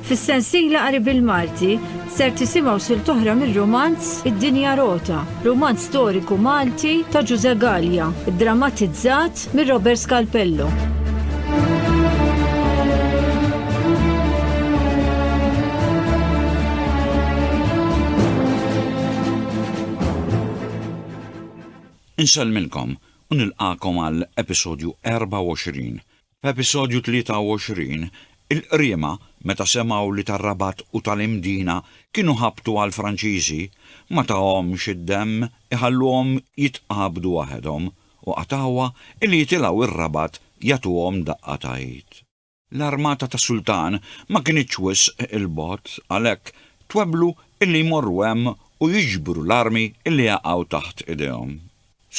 Fis-sensiela qari bil-Malti ser tisimgħu sil toħra mir-romanz Id-Dinja Rota, romanz storiku Malti ta' Ġuże Gallia, drammatizzat mir Robert Scalpello. Insellmilkom u nilqagħkom għal episodju 24. F'episodju 23, il-qriema meta semgħu li tar-Rabat u tal-Imdina kienu ħabtu għall-Franċiżi, ma tahomx id-demm iħalluhom jitqabdu waħedhom u qatgħuha illi jitilgħu r-Rabat jagħtuhom daqqa ta' id. L-armata tas-sultan ma kinitx wisq 'il bogħod, għalhekk twebblu illi jmorru hemm u jiġbru l-armi illi jaqgħu taħt idejhom.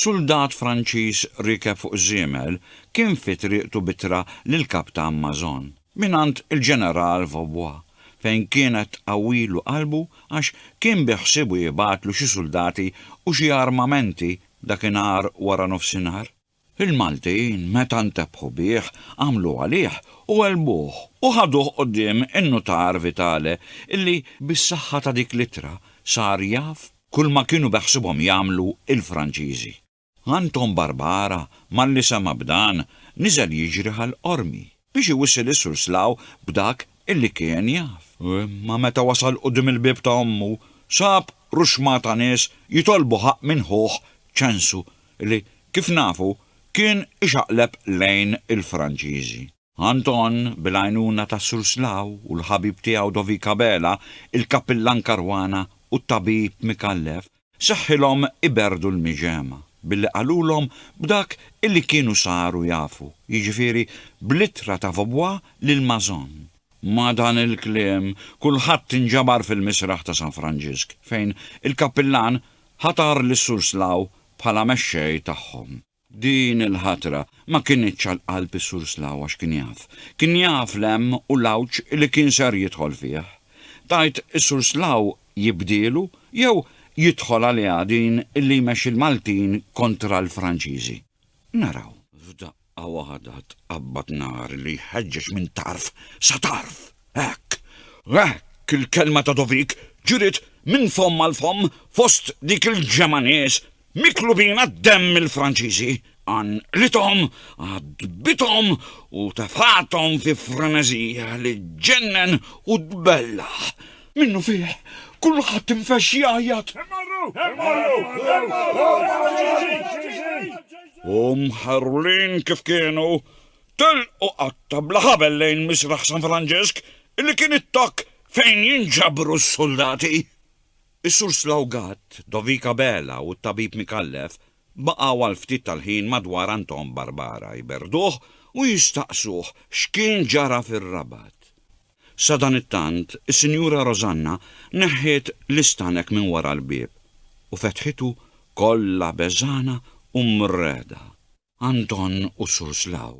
Suldat Franċiż riekeb fuq żiemel kien fi triqtu b'ittra lill-Kaptan Mazon, mingħand il-Ġeneral Vaubois, fejn kienet tqawwilu qalbu għax kien biħsiebu jibgħatlu xi suldati u xi armamenti dakinhar wara nofsinhar. Il-Maltin, meta ntebħu bih, għamlu għalih u għelbuh u ħaduh quddiem in-nutar Vitale illi bis-saħħa ta' dik l-ittra sar jaf kulma kienu beħsibhom jagħmlu il-Franċiżi. Anton Barbara, malli sema' b'dan, niżel jiġri għall-Qormi. biex iwissi lis Sur Slaw b'dak illi kien jaf. Imma meta wasal quddiem il-bieb ta' ommu, sab ruxma ta' nies jitolbu ħaqq minn ħuh Ċensu li, kif nafu, kien ixaqleb lejn il-Franċiżi. Anton, bil-għajnuna ta' Sur Slaw u l-ħabib tiegħu Dovik Abela, il-kappillan Caruana u t-tabib Micallef, Seħħilhom iberrdu l-miġemgħa billi qalulhom b'dak illi kienu saru jafu, jiġifieri bl-ittra ta' Vaubois lil Mazon. Ma' dan il-kliem kulħadd inġabar fil-misraħ ta' San Franġisk fejn il-Kappillan ħatar lis-Sur Slaw bħala mexxej tagħhom. Din il-ħatra ma kinitx għal qalb is-Sur Slaw għax kien jaf. Kien jaf l-hemm u l-għawġ li kien ser jidħol fih. Tgħid is-Sur Slaw jibdielu jew jidħol għaliha din li jmexxi l-Maltin kontra l-Franċiżi? Naraw. F'daqqa waħda tqabbad nar li jħeġġeġ minn tarf sa tarf. Hekk! Hekk il-kelma ta' Dovik ġriet minn fomm għal fomm fost dik il-ġemgħa nies Miklu bina d-demm il-Franċiżi, għanqlithom, għadbithom u tefgħathom fi freneżija li ġġennen u tbellaħ. Minnu fih, kulħadd infexx jgħajjat, Immorru! Immorru! Immorru l-Franċiżi! U mħarrulin kif kienu, telqu qatta bla ħabel lejn Misraħ San Franġisk li kien it-tokk fejn jinġabru s-suldati. Is-Sur Slawgat, Dovik Abela u t-Tabib Micallef baqgħu għal ftit tal-ħin madwar Anton Barbara, jberduh u jistaqsuh x'kien ġara fir-Rabat. Sadanittant, is-Sinjura Rosanna neħħiet l-istanek minn wara l-bieb u fetħitu kollha beżgħana u mrehda. Anton u Sur Slaw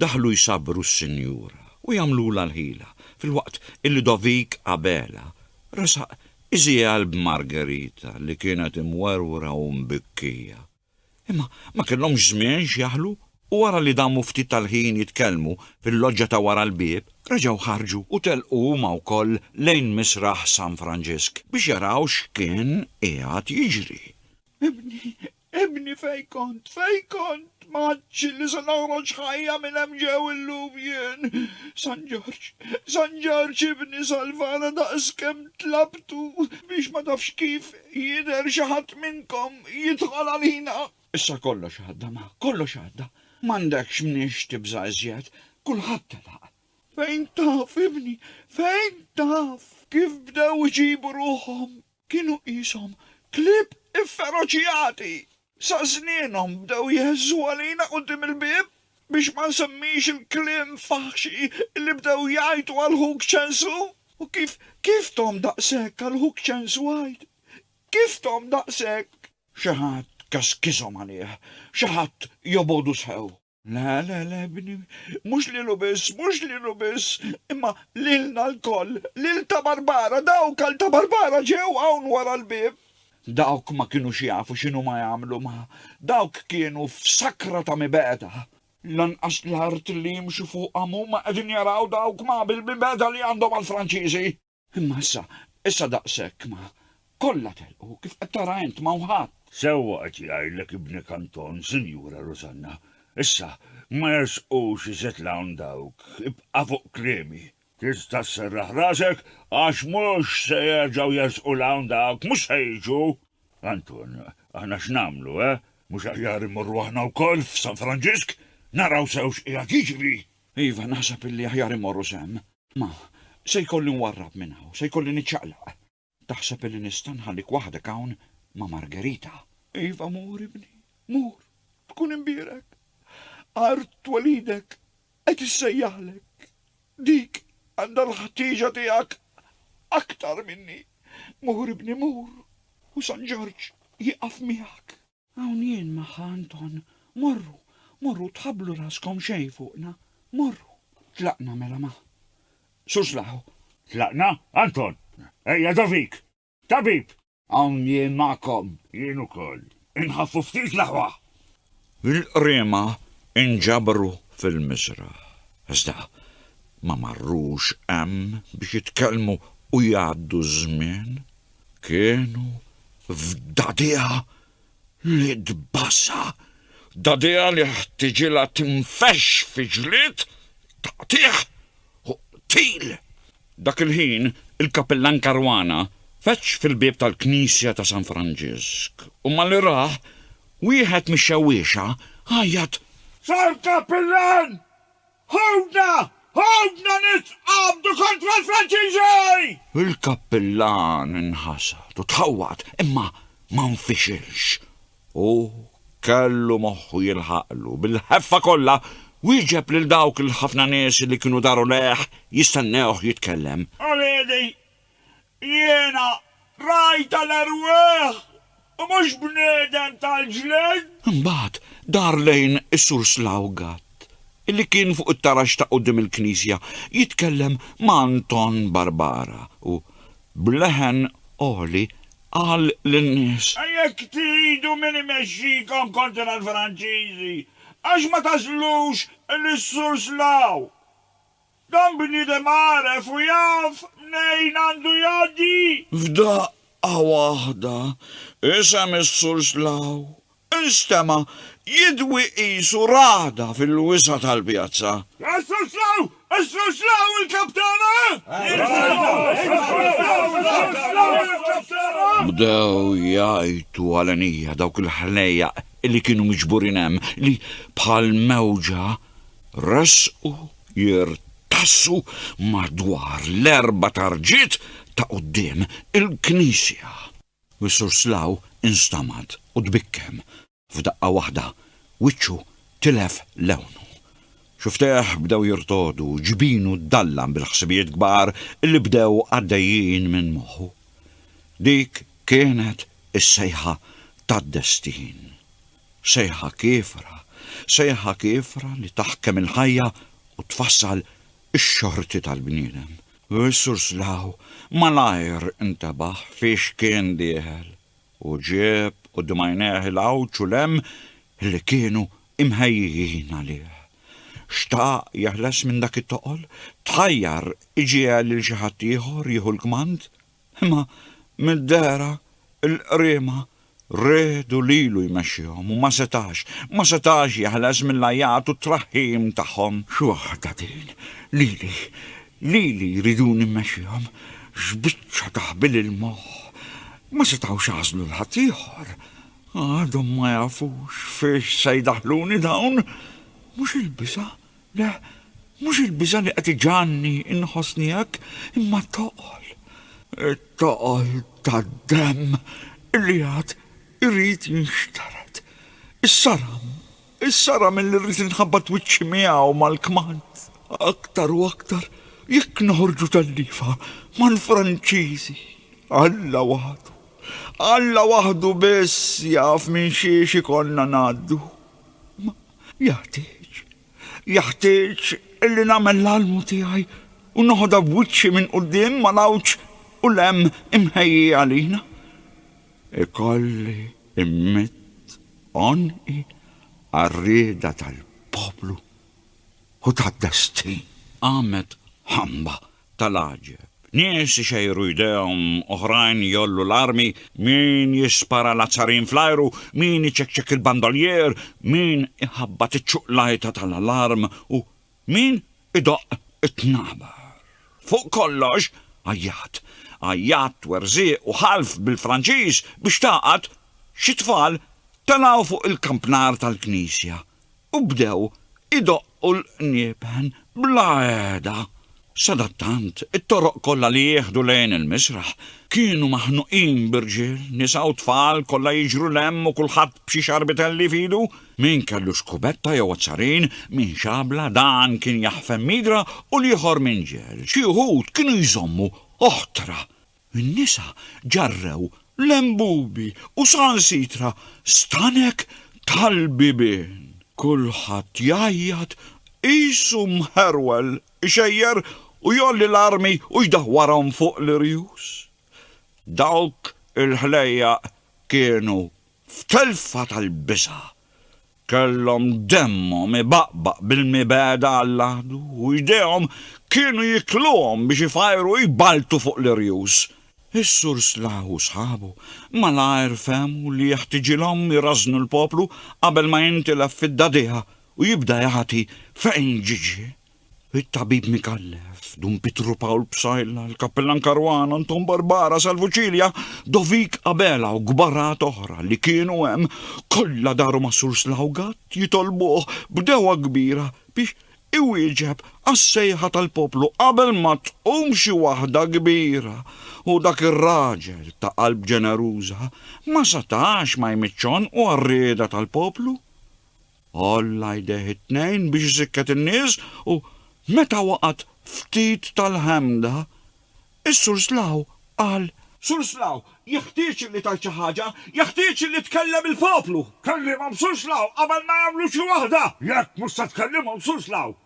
Daħlu jsabbru s-sinjura u jagħmlulha l-ħila, filwaqt il Ludovic Abela resaq iżjegħel b'Margherita li kienet imwerwra u mbikkija. Imma ma kellhomx żmien x'jaħlu u wara li damu ftit tal-ħin jitkellmu fil-loġġa ta' wara l-bieb, reġgħu ħarġu u telqu huma wkoll lejn Misraħ San Franġisk biex jaraw x'kien qiegħed jiġri. Ibni Ibni fejn kont, fejn kont, ma għadx li se noħroġ ħajja minn hemm ġew illum jien. San Ġorġ, San Ġorġ ibni salvana daqs kemm tlabtu biex ma tafx kif jidher xi ħadd minnkom jidħol għalina. Issa kollox għadda ma, kollox għadda, m'għandekx mniex tibża' iżjed, kulħadd telaq. Fejn taf ibni, fejn taf kif bdew iġibu ruħhom. Kienu qishom klieb ifferoċjati, sa żnienhom bdew jheżżu għalina quddiem il-bieb, biex ma nsemmix il-kliem faħxi li bdew jgħidu għal ħuk Ċensu. U kif, kif thom daqshekk għal ħuk Ċensu għid? Kif thom daqshekk? Xi ħadd kaskishom għalih, xi ħadd jobogħdu sew. La, la, la, bni, mhux lilu biss, mhux lilu biss, imma lilna lkoll, lil ta' Barbara, dawk għal ta' Barbara ġew hawn wara l-bieb. Dawk ma kinux jafu x'inhuma jagħmlu ma' dawk kienu f'sakra ta' mibegħda. Lanqas l-art li jimxu fuqha m'huma qegħdin jaraw dawk ma' bil-mibegħda li għandhom għall-Franċiżi. Imma issa, issa daqshekk ma. Kollha telqu, kif qed tara int, m'hawn ħadd. Sewwa qed jgħidlek ibnek Anton, Sinjura Rużanna. Issa, ma jersqux iżjed 'l hawn dawk, ibqa' fuq kliemi. Tista' sserraħ rasek, għax mhux se jerġgħu jersqu 'l hawn dawk, mhux se jiġu. Anton, aħna x'nagħmlu, eh? Mhux aħjar immorru aħna wkoll f'San Franġisk, naraw sew x'qiegħed jiġri? Iva, naħseb illi aħjar immorru sehem. Ma, se jkolli nwarrab minn hawn, se jkolli niċċaqlaq. Taħseb illi nista' nħallik waħdek hawn ma' Margherita? Iva mur, ibni, mur, tkun imbierek. Art twelidek qed issejjaħlek. Dik għandha l-ħtieġa tiegħek aktar minni. Mur, ibni, mur, u San Ġorġ jieqaf miegħek. Hawn jien magħha Anton. Morru, morru, tħabblu raskom xejn fuqna. Morru. Tlaqna mela ma'. Sur Slaħu. Tlaqna? Anton! Ejja do fik! Tabib! Hawn jien magħkom. Jien ukoll. Inħaffu ftit l-aħwa! Il-qriema inġabru fil-miżraħ. Iżda ma marrux hemm biex jitkellmu u jgħaddu ż-żmien. Kienu f'dadija li tbassa, dadija li ħtiġilha tinfex fi ġlied, taqtigħ u qtil. Dak il-ħin il-Kappillan Caruana feġġ fil-bieb tal-knisja ta' San Franġisk u malli rah, wieħed mix-xewwiexa għajjat, Sar Kappillan! Ħutna! Ħutna nitqabdu kontra l-Franċiżi! Il-kappillan inħasad u tħawwad imma ma nfixilx. Hu kellu moħħu jilħaqlu. Bil-ħeffa kollha wieġeb lil dawk il-ħafna nies li kienu daru lejh jistennewh jitkellem. Uliedi, Jiena rajtha l-erwieħ u mhux bniedem tal-ġlied. Imbagħad dar lejn is-Sur Slawgat, li kien fuq it-tarax ta' quddiem il-knisja jitkellem ma' Anton Barbara u, b'leħen għoli, qal lin-nies. Jekk tridu min imexxikom kontra l-Franċiżi, għax ma tagħżlux lis-Sur Slaw? Dan bniedem għaref u jaf mnejn għandu jgħaddi! F'daqqa waħda, isem is-Sur Slaw instema' jidwi qisu ragħda fil-wisa' tal-pjazza. Is-Sur Slaw! Is-Sur Slaw il-Kap tagħna! Bdew jgħajtu għal għenija dawk il-ħnejjaq li kienu miġburin hemm li, bħal mewġa, Resqu jirtassu madwar l-erba' tarġiet ta' quddiem il-knisja. U s-Sur Slaw instamad u tbikkem. F'daqqa waħda wiċċu tilef lewnu. Xuftejh bdew jirtogħdu, ġbinu ddallam bil-ħsibijiet kbar li bdew għaddejjin minn moħħu. Dik kienet is-sejħa tad-destin. Sejħa kiefra, sejħa kiefra li taħkem il-ħajja u tfassal ix-xorti tal-bniedem. Is-Sur Slaw malajr intebaħ fiex kien dieħel u ġieb quddiem għajnejh il-għawġ u l-hemm li kienu imħejjijin għalih. Xtaq jeħles minn dak it-toqol, tħajjar iġiegħel lil xi ħadd ieħor jieħu l-kmand Imma mid-dehra l-qriema riedu lilu jmexxihom u ma setax, ma setax jeħles mill-għajat u t-traħħim tagħhom. X'waħda din! Lili, lili jriduni mmexxihom! X'biċċa ta' ħbil il-moħħ! Ma setgħux għażlu 'l ħadd ieħor. Għadhom ma jafux fiex se jdaħħluni dawn! Mhux il-biża'? Le, mhux il-biża' li qed iġagħalni nħossni hekk, imma t-toqol. It-toqol tad-demm li għad irid jinxtered. Is-saram, is-saram illi rrid inħabbat wiċċi miegħu mal-kmand. Aktar u aktar jekk noħorġu telliefa mal-Franċiżi. Alla waħdu, Alla waħdu biss jaf minn xiex ikollna ngħaddu. Jeħtieġ, jeħtieġ illi nagħmel l-almu tiegħi u noħodha b'wiċċi minn quddiem mal-għawġ u l-hemm imħejji għalina. Ikolli mmidd għonqi għar-rieda tal-poplu u tad-destin. Qamet ħamba tal-għaġeb. Nies ixejru jdejhom, oħrajn jgħollu l-armi, min jispara l-azzarin fl-ajru, min iċekċek il-bandolier, min iħabbat iċ-ċuqlajta tal-alarm u min idoqq it-tnabar. Fuq kollox, għajjat. Għajjat, twerżiq u ħalf bil-Franċiż biex tagħqad xi tfal telgħu fuq il-kampnar tal-knisja. u bdew idoqqu l-qniepen bla qiegħda. Sadattant, it-toroq kollha li jieħdu lejn il-misraħ kienu maħnuqin b'irġiel, nisa u tfal kollha jiġru 'l hemm u kulħadd b'xi xarbitelli f'idu. Min kellu xkubetta jew azzarin, min xabla, dan kien jaħfem midra u l-ieħor minġel. Xi wħud kienu jżommu oħtra. In-nisa ġarrew lembubi u sansitra stanek tal-bibien. Kulħadd jgħajjat qisu mħerwel, ixejjer u jgħolli l-armi u jdawwarhom fuq l-irjus. Dawk il-ħlejjaq kienu f'telfa tal-biża'. Kellhom demmhom ibaqbaq bil-mibegħda għall-għadu u jdejhom kienu jikluhom biex ifajru u jballtu fuq l-irjus. Is-Sur Slaw u sħabu malajr fehmu li jeħtiġilhom irażżnu l-poplu qabel ma jintilef fid-dagħdigħa u jibda jagħti fejn ġiġi. It-tabib Mikallef, Dun Pitru Pawl Psajla, l-Kappellan Karwana, Anton Barbara, Salvu Ċilja, Dovik Abela u gbarat oħra li kienu hemm kollha daru ma' Sur Slawgat jitolbuh b'dewwa kbira biex iwieġeb għas-sejħa tal-poplu qabel ma tqum xi waħda kbira u dak ir-raġel ta' qalb ġeneruża ma setax ma jmiċċ u għar-rieda tal-poplu. Għolla jdejh it-tnejn biex isikket in-nies u, meta waqgħet ftit tal-ħemda, is-Sur Slaw qal. Sur Slaw, jeħtieġ illi tgħid xi ħaġa, jeħtieġ illi tkellem il-poplu! Kellimhom Sur Slaw qabel ma jagħmlu xi waħda! Jekk mhux se tkellimhom Sur Slaw,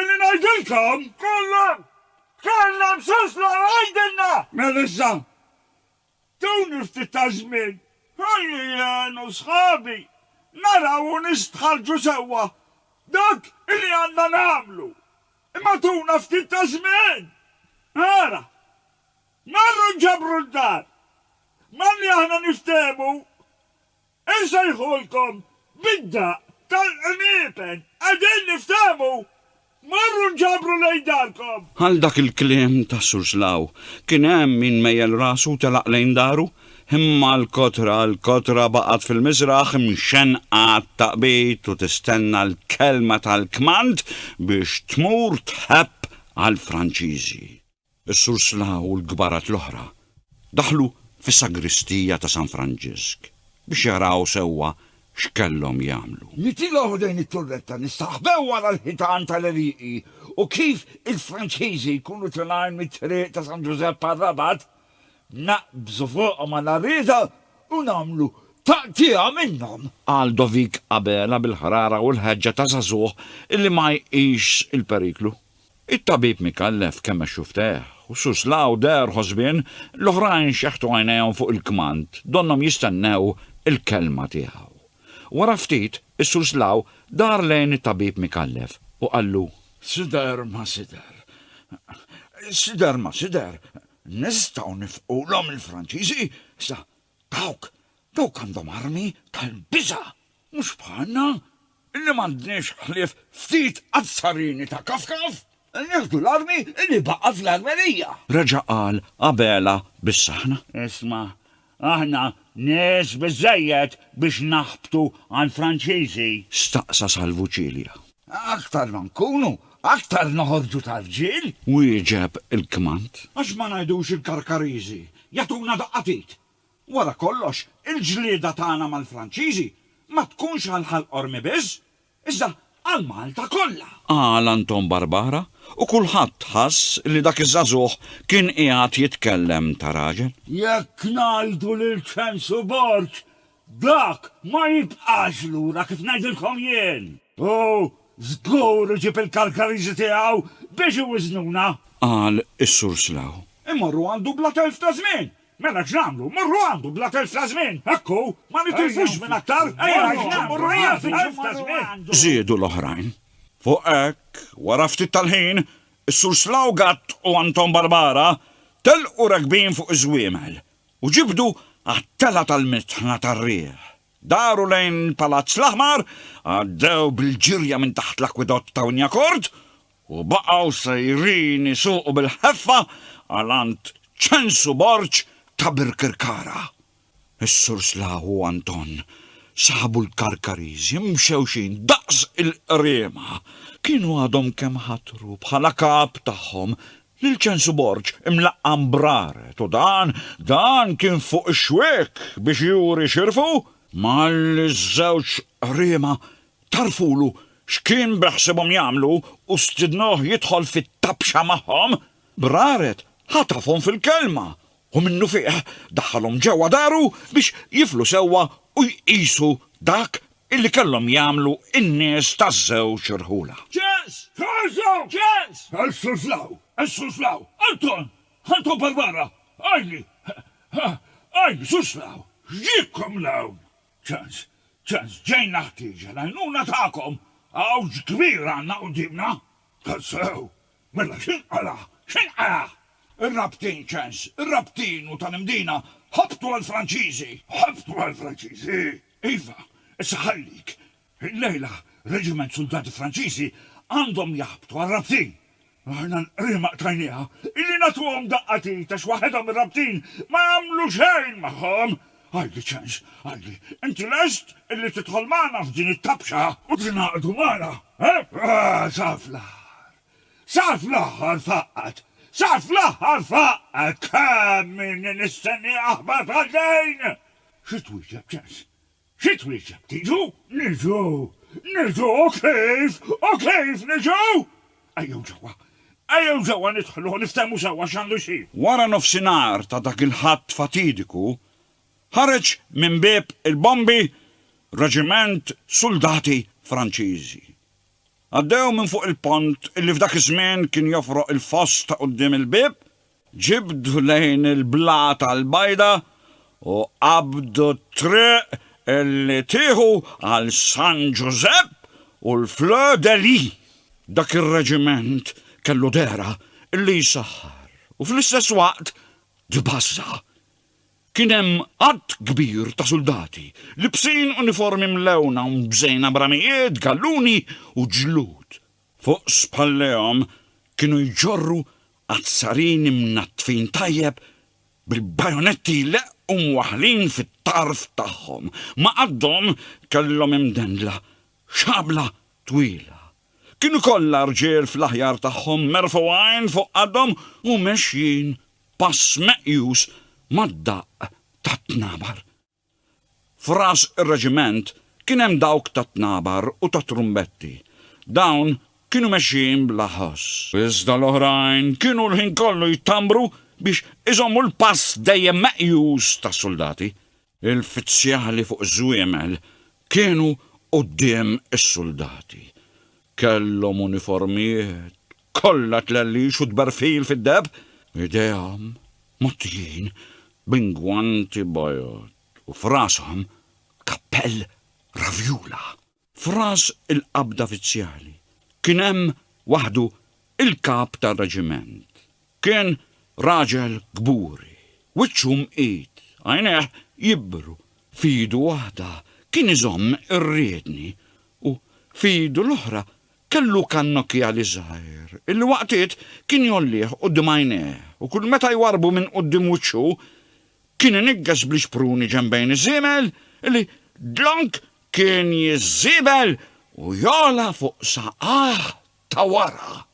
Illi ngħidilkom? Kollha! Tkellem sostna u għidilna! Melissa, Tuni ftit ta' żmien. Ħalli jien u sħabi naraw u nistħarrġu sewwa dak illi għandna nagħmlu. Imma tuna ftit ta' żmien! Ara! Marru nġabru d-dar. Malli aħna niftehmu Insejħulkom bid-daqq tal-qniepen, qegħdin niftehmu? Morru nġabru lejn darkom! Għal dak il-kliem tas-Sur Slaw, kien hemm min mejjel rasu u telaq lejn daru, imma l-kotra, l-kotra baqgħet fil-miżraħ mxennqa għat-taqbid u tistenna l-kelma tal-kmand biex tmur tħebb għall-Franċiżi. Is-sursla u l-kbarat l-oħra daħlu fis-sagristija ta' San Franġisk biex jaraw sewwa x'kellhom jagħmlu. Nitilgħu ħdejn it-turretta, nistaħbew wara l-ħitan tal-għelieqi u kif il-Franċiżi jkunu tlgħin mit-Triq ta' San Ġużepp għar-Rabat, naqbżu fuqhom għal għarrieda u nagħmlu taqtigħa minnhom! Qal Dovik Abela bil-ħrara u l-ħeġġa ta' żagħżugħ li ma jqisx il-periklu. It-tabib mikellef kemmex xufftejh, u Sus Lau deher ħosbien, l-oħrajn xeħtu għajnejhom fuq il-kmand, donnhom jistennew il-kelma tiegħu. Wara ftit, is-Sus Lau dar lejn it-tabib mikellef u qallu. Sider ma sider. Sider ma sider. Nistgħu nifqulhom il-Franċiżi? Sa Dawk, dawk għandhom armi tal-biża', mhux bħalna, li m'għandniex ħlief ftit azzarini ta' kafkaf! Nieħdu l-armi li baqa' fl-armerija! Reġa' qal Abela bis-saħħna. Isma', aħna nies biżżejjed biex naħbtu għall-Franċiżi! Staqsa Salvu Cilia. Aktar ma nkunu, aktar noħorġu ta' rġiel! Wieġeb il-kmand. Għax ma ngħidux il-Karkariżi, jagħtuna daqqa t'id! Wara kollox, il-ġlieda tagħna mal-Franċiżi ma tkunx għal Ħal Qormi biss, iżda għal Malta kollha! Qal Anton Barbara, u kulħadd ħass li dak iż-żagħżugħ kien qiegħed jitkellem ta' raġel. Jekk ngħidu li l-Ċensu Borg Dak ma jibqax lura kif ngħidilkom jien! U żgur iġib il-Kalkariżi tiegħu biex iwiżnuna! Qal is-Sur Slough. Immorru għandu bla telf ta' żmien! Mela x'nagħmlu? Mmorru għandu bla telf ta' żmien! Hekk hu! Ma nitilfux żmien aktar! Ejja nfittxu mmorru għandu! Żiedu l-oħrajn. Fuq hekk, wara ftit tal-ħin, is-Sur Slough Gatt u Anton Barbara telqu rakbin fuq iż-żwiemel. U ġibdu għat-telgħa tal-mitħna tar-riħ. Daru lejn il-Palazz l-Aħmar, għaddew bil-ġirja minn taħt l-akwidott ta' Wynyacord u baqgħu sejrin isuqu bil-ħeffa għal għand ċensu Borg ta' Birkirkara. Is-Sur Slaw u Anton saħbu l-Karkariżi mxewxin daqs il-qriema. Kienu għadhom kemm ħatru bħala kap tagħhom Lil Ċensu Borg imlaqqa' mbraret u dan, dan kien fuq ix-xwiek biex juri xirfu malli ż-żewġ qriema tgħarrfulu x'kien beħsiebhom jagħmlu u stidnuh jidħol fit-tabxa magħhom, Braret ħatafhom fil-kelma u minnufih daħħalhom ġewwa daru biex jiflu sewwa u jqisu dak illi kellhom jagħmlu n-nies taż-żewġ irħula. Ġens! Ħarsu! Ġens! Ħarsu 'l hawn! Ħarsu 'l hawn! Anton! Anton Barbara! Ajli! Ajli! Sus 'l hawn! X'ġiebkom 'l hawn? Ġens! Ġens! Ġejna ħtieġa l-għajnuna tagħkom! Għawġ kbir għandna quddiemna! Tassew! Mela x'inqala'? X'inqala'? Ir-rabtin, Ġens, ir-rabtin u tal-Imdina ħabtu għall-Franċiżi! Ħabtu għall-Franċiżi? Iva, issa ħallik. Illejla reġiment suldati Franċiżi għandhom jaħbtu għar-rabtin. Aħna l-qriema qtajnieha. Illi nagħtuhom daqqa t'id għax waħedhom ir-rabtin ma jagħmlu xejn magħhom. Għalli ċens, għalli. Inti lest illi tidħol magħna f'din it-tabxa? U tingħaqdu magħna, eh? Sa fl-aħħar. Sa fl-aħħar faqqgħet. Sa fl-aħħar faqqgħet! Kemm inni nistennieha aħbar bħal din! Xi twieġeb, Ċans? Xi twieġeb, Tiġu? Niġu! Niġu! U kif? U kif niġu? Ejjew ġewwa! Ejjew ġewwa nidħlu u niftehmu sewwa x'għandu jsir! Wara nofsinhar ta' dak il-Ħadd fatidiku, ħareġ minn bieb il-bombi reġiment suldati Franċiżi. Għaddew minn fuq il-pont li f'dak iż-żmien kien jofroq il-foss ta' quddiem il-bieb, Ġibdu lejn il-blata l-bajda u qabdu t-triq li tieħu għal San Ġużepp u l-Fleur de Lis. Dak ir-reġiment kellu dehra li jsaħħar u fl-istess waqt tbażża'. Kien hemm għadd kbir ta' suldati, libsin uniformi mlewna u mżejna b'ramijiet, galluni u ġlud. Fuq spallejhom kienu jġorru azzarini mnaddfin tajjeb bil-bajonetti jleqqu mwaħħlin fit-tarf tagħhom. Ma' qaddhom kellhom imdendla xabla twila. Kienu kollha rġiel fl-aħjar tagħhom merfugħin fuq qaddhom u mexjin pass meqjus mad-daqq tat-tnabar. F'ras ir-reġiment kien hemm dawk tat-tnabar u tat-trumbetti. Dawn kienu mexjin bla ħoss. Iżda l-oħrajn kienu l-ħin kollu jtambru biex iżommu l-pass dejjem meqjus tas-suldati. Il-fizzjali fuq iż-żwiemel kienu quddiem is-suldati. Kellhom uniformijiet, Kollha tlellix u tberfil fid-deheb. Idejhom mgħottijin b'ingwanti bajod u f'rashom kappell ravjula. F'ras il-qabda fizzjali kien hemm waħdu il-kap tar-reġiment. Kien raġel kburi, wiċċu mqid, għajnejh jibru. F'idu waħda kien iżomm ir-riedni u f'idu l-oħra Kellu kannokjali żgħir, illi waqtiet kien jgħollih quddiem għajnejh, u kull meta jwarrbu minn quddiem wiċċu, kien iniggeż bl-ixpruni ġenbejn iż-żiebel, illi dlonk kien jiżżiebel u jogħla fuq saqajh ta' wara.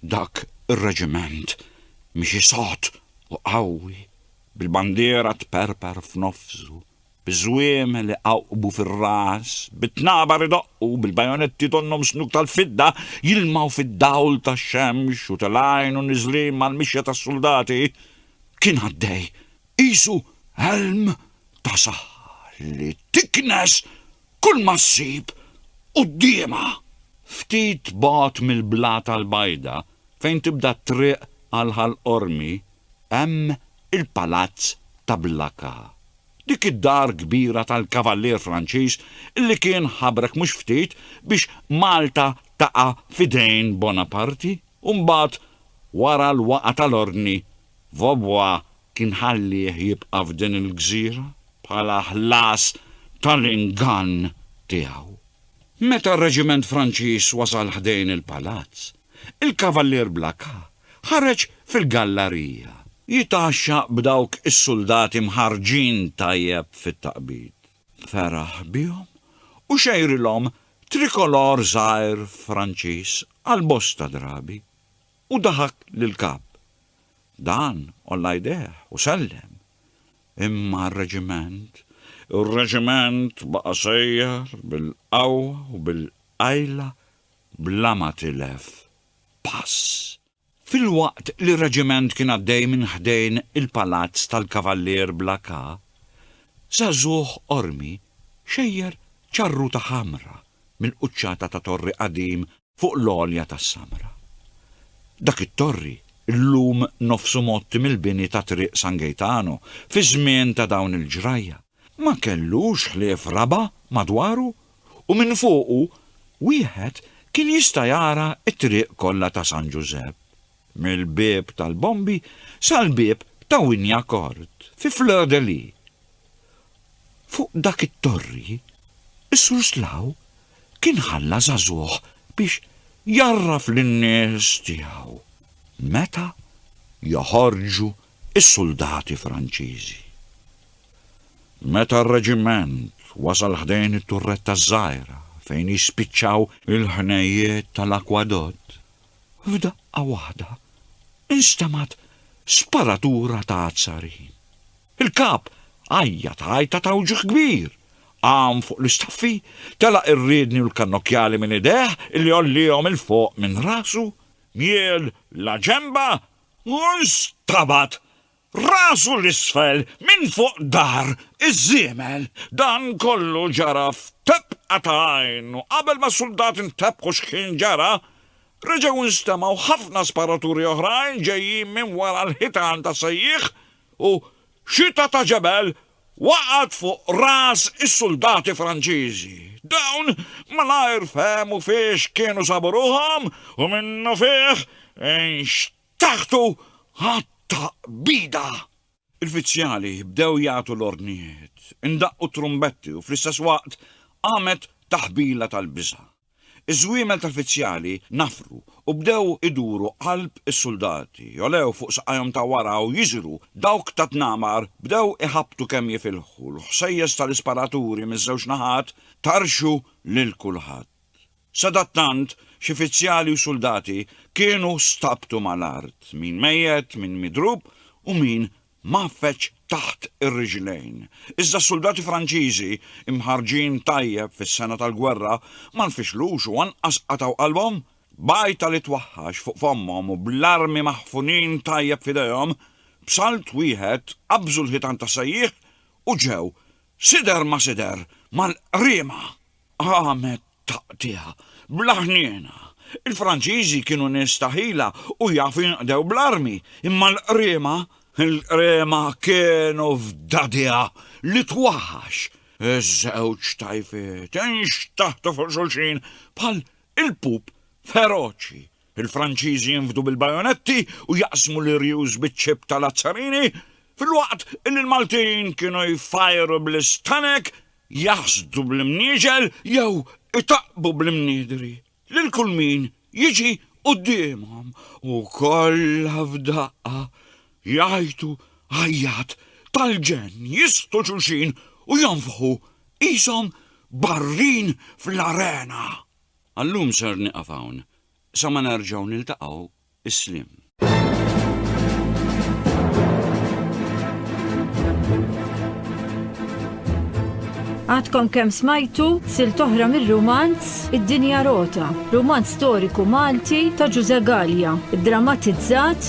Dak ir-reġiment miexi sod u qawwi, bil-bandiera tperper f'nofsu, Iż-żwiem li qawqbu fir-ras, bit-tnabar idoqqu, bil-bajonetti tonnhom snuk tal-fidda, jilmgħu fid-dawl tax-xemx u telgħin u niżlin mal-mixja tas-suldati, kien għaddej, qisu għelm ta' saħħa li tiknes kulma ssib quddiemha. Ftit bogħod mill-Blata l-Bajda, fejn tibda t-triq għal Ħal Qormi, Hemm il-Palazz ta' Blacas, dik id-dar kbira tal-Kavallier Franċiż li kien ħabrek mhux ftit biex Malta taqa' f'idejn Bonaparte u mbagħad wara l-waqgħa tal-Ordni Vaubois kien ħallieh jibqa' f'din il-gżira bħala ħlas tal-ingann tiegħu. Meta r-Reġiment Franċiż wasal ħdejn il-Palazz, il-Kavallier Blacas Ħareġ fil-gallarija. Jitgħaxxa b'dawk is-suldati mħarrġin tajjeb fit-taqbid. Feraħ bihom u xejrilhom trikolor żgħir Franċiż għal bosta drabi u daħak lill-Kap. Dan għolla jdejh u sellem. Imma r-reġiment? Ir-reġiment baqa' sejjer bil-qawwa u bil-qajla bla ma tilef pass. Filwaqt li r-reġiment kien għaddej minn ħdejn il-palazz tal-Kavallier bla Ka, żagħżugħ Qormi xejjer ċarruta ħamra mill-quċċata ta' torri qadim fuq l-għolja tas-Samra. Dak it-torri llum nofsu mgħotti mill-bini ta' Triq San Gejtano fiż-żmien ta' dawn il-ġrajja. Ma kellux ħlief raba' madwaru u minn fuqu wieħed kien jista' jara t-triq kollha ta' San Ġużepp, mill-Bieb tal-Bombi sal-Bieb ta' Wynyacourt fi Fleur de Lys. Fuq dak it-torri, is-Sur Slaw kien ħalla żagħżugħ biex jgħarraf lin-nies tiegħu meta joħorġu is-suldati Franċiżi. Meta r-reġiment wasal ħdejn it-turretta ż-żgħira fejn jispiċċaw il-ħnejjiet tal-akwadott, f'daqqa waħda instemgħet sparatura ta' azzarin. Il-kap għajjat għajta ta' wġigħ kbir, qam fuq l-istaffi, telaq ir-riedni u l-kannokjali minn idejh li għollihom 'il fuq minn rasu, miel la ġenba u nstabad rasu 'l isfel minn fuq dahar iż-żiemel. Dan kollu ġara f'tebqa ta' għajn u qabel ma s-suldati ntebħu x'kien ġara, reġgħu nstemgħu ħafna sparaturi oħrajn ġejjin minn wara l-ħitan ta' Sejjieħ u xita ta' ġebel Waqgħet fuq ras is-suldati Franċiżi. Dawn malajr fehmu fiex kienu sabu ruħhom u minnufih nxteħtu għat-taqbida. Il-fizzjali bdew jagħtu l-ordnijiet, indaqqu t-trumbetti u fl-istess waqt qamet taħbila tal-biża'. Iż-żwiemel tal-fizzjali nafru u bdew iduru qalb is-suldati, jogħlew fuq saqajhom ta' wara u jiżru, dawk tat-tnamar bdew iħabbtu kemm jifilħu, l-ħsejjes tal-isparaturi miż-żewġ naħat tarxu lil kulħadd. Sadattant, xi fizzjali u suldati kienu stabtu mal-art, min mejjet, min midrub u min mgħaffeġ taħt ir-riġlejn, iżda s-suldati Franċiżi, imħarrġin tajjeb fis-sengħa tal-gwerra, ma nfixlux u anqas qatgħu qalbhom. B'għajta li twahhax fuq fommhom u bl-armi maħfunin tajjeb f'idejhom, b'salt wieħed qabżu l-ħitan tas-sejjieħ u ġew, sider ma sider, mal-qriema! Qamet taqtiegħa, bla ħniena. Il-Franċiżi kienu nies ta' ħila u jafu jinqdew bl-armi, imma l-qriema, il-qriema kienu f'dadiha li twaħħax. Iż-żewġ tajfiet inxtaħtu fuq xulxin bħal il-pup feroċi. Il-Franċiżi jinfdu bil-bajonetti u jaqsmu l-irjus biċ-ċip ta' Lazzarini, filwaqt li l-Maltin kienu jfajru bl-istanek, jaħsdu bl-imnieġel jew itaqqbu bl-imniedri lil kull min jiġi quddiemhom u kollha f'daqqa jgħajtu għajjat tal-ġenn, jistgħu xulxin u jonfħu qishom barrin fl-arena. Għal-lum ser nieqaf hawn, sa ma nerġgħu niltaqgħu, is-sliem. Għadkom kemm smajtu silt oħra mir-rumanz Id-Dinja Rota, rumanz storiku Malti ta' Ġużè Galea, iddramatizzat